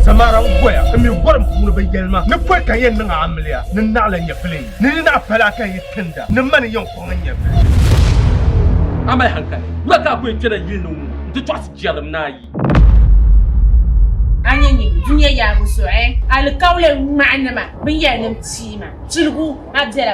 Samara n goya n mi gorim puuni bi yɛlima ni pɔi ka yɛn niŋ amiliya ni naɣila nyɛvili ni ni naɣa pala ka yi tinda ni mani yɛn kɔŋ nyɛvili amali hankali wula ka ku kpɛna yili ni ŋun n ti tɔɣisi jɛrim ni ayi a nyɛ nyɛ dunia yaabu zuɣu alikauli ŋmahinima binyɛra nim tiima tiligu a bɛla